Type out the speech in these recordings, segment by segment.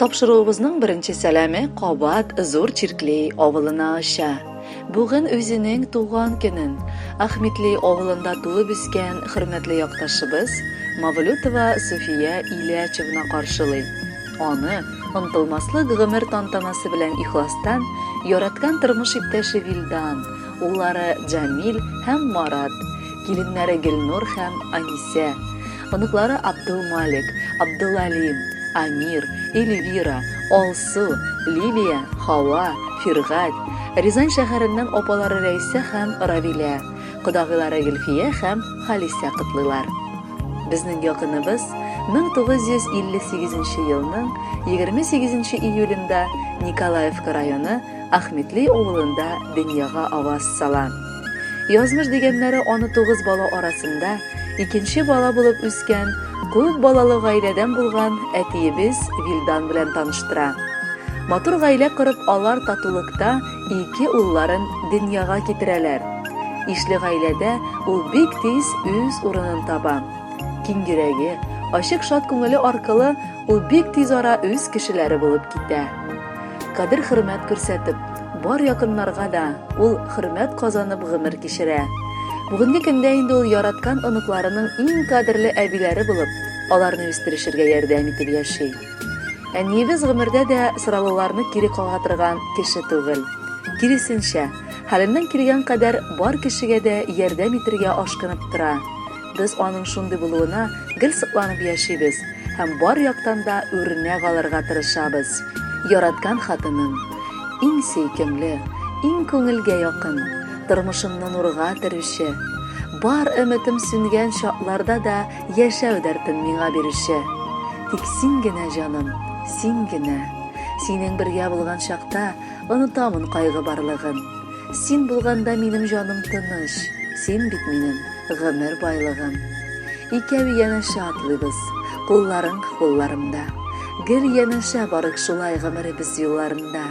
Тапшыруыбызның беренче сәламе кабат Зур Чиркли авылына оча. Бүген үзенең туган көнен Ахметли авылында туып үскән хөрмәтле якташыбыз Мавлютова Суфия Ильячевна каршылый. Аны онтылмаслык гомер тантанасы белән ихластан яраткан тормыш иптәше Вилдан, уллары Җамил һәм Марат, киленнәре Гөлнур һәм Анисә, Оныклары Абдулмалик, Абдулали, Амир, Эльвира, Алсу, Лилия, Хава, Фиргать, Рязань шәһәреннән апалары Рәйсә һәм Равилә, кодагыйлары Гөлфия һәм Халисә котлыйлар. Безнең якыныбыз 1958 елның 28 июлендә Николаевка районы Ахметли авылында дөньяга аваз сала. Язмыш дигәннәре аны тугыз бала арасында икенче бала булып үскән, күп балалы гаиләдән булган әтиебез Вилдан белән таныштыра. Матур гаилә корып, алар татулыкта ике улларын дөньяга китерәләр. Ишле гаиләдә ул бик тиз үз урынын таба. Киң йөрәге, ачык шат күңеле аркылы ул бик тиз ара үз кешеләре булып китә. Кадер-хөрмәт күрсәтеп, бар якыннарга да ул хөрмәт казанып гомер кичерә. Бүгенге көндә инде ул яраткан оныкларының иң кадерле әбиләре булып, аларны үстерешергә ярдәм итеп яши. Әниебез гомердә дә сораулыларны кире кага торган кеше түгел. Киресенчә, хәленнән килгән кадәр бар кешегә дә ярдәм итергә ашкынып тора. Без аның шундый булуына гел сокланып яшибез һәм бар яктан да үрнәк алырга тырышабыз. Яраткан хатыным, иң сөйкемле, иң күңелгә якын, тормышымны нурга төрүче, бар өметем сүнгән чакларда да яшәү дәртен миңа бирүче. Тик син генә, җаным, син генә. Синең бергә булган чакта Онытамын кайгы барлыгын. Син булганда минем җаным тыныч, Син бит минем гомер байлыгым. Икәү янәшә атлыйбыз, кулларың кулларымда. Гел янәшә барык шулай гомеребез юлларында.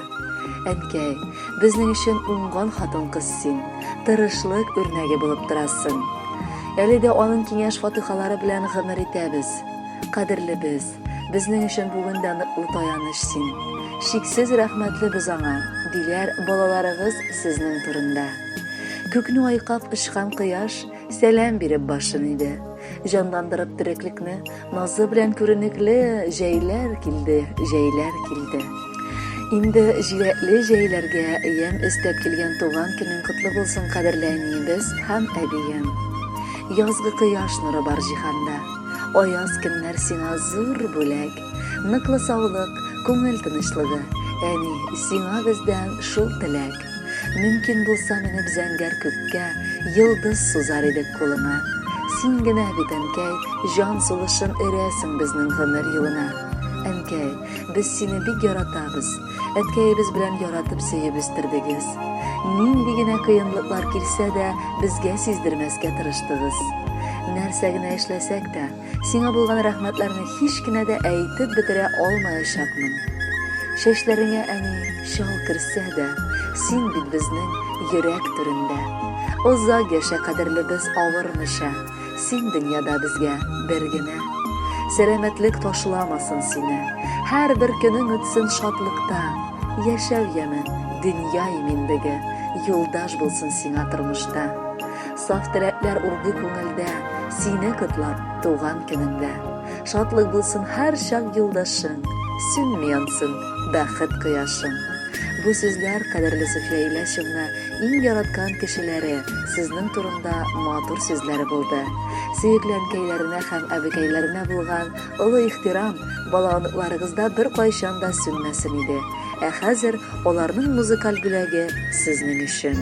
Әнкәй, безнең өчен уңган хатын-кыз син, тырышлык үрнәге булып торасың. Әле дә аның киңәш-фатыйхалары белән гомер итәбез. Кадерлебез, Безнең өчен бүген дә ныклы таяныч син. Чиксез рәхмәтле без аңа, диләр балаларыгыз сезнең турында. Күкне айкап очкан кояш сәлам биреп башын иде. Җанландырып тереклекне назы белән күренекле җәйләр килде, җәйләр килде. Инде җиләкле җәйләргә ямь өстәп килгән туган көнең котлы булсын, кадерле әниебез һәм әбием. Язгы кояш нуры бар җиһанда. Аяз көннәр сиңа зур бүләк. Ныклы саулык, күңел тынычлыгы. Әни, сиңа бездән шул теләк. Мөмкин булса менеп зәңгәр күккә, Йолдыз сузар идек кулыңа. Син генә бит, әнкәй, Җан сулышын өрәсең безнең гомер юлына. Әнкәй, без сине бик яратабыз. Әткәебез белән яратып сөеп үстердегез. Нинди генә кыенлыклар килсә дә, безгә сиздермәскә тырыштыгыз. Нәрсә генә эшләсәк тә, сиңа булган рәхмәтләрне һич кенә дә әйтеп бетерә алмаячакмын. Чәчләреңә әни чал керсә дә, син бит безнең йөрәк түрендә. Озак яшә, кадерлебез, авырмыйча. Син дөньяда безгә бер генә. Сәламәтлек ташламасын сине, Һәрбер көнең үтсен шатлыкта. Яшәү яме, дөнья иминлеге, Юлдаш булсын сиңа тормышта. Саф теләкләр урды күңелдә, Сине котлап, туган көнеңдә. Шатлык булсын һәрчак юлдашың, Сүнми янсын бәхет кояшың. Бу сүзләр кадерле Суфия Илясевна Иң яраткан кешеләре, сезнең турында матур сүзләре булды. Сөекле әнкәйләренә һәм әбекәйләренә булган олы ихтирам балалыкларыгызда беркайчан да сүнмәсен иде. Ә хәзер аларның музыкаль бүләге сезнең өчен.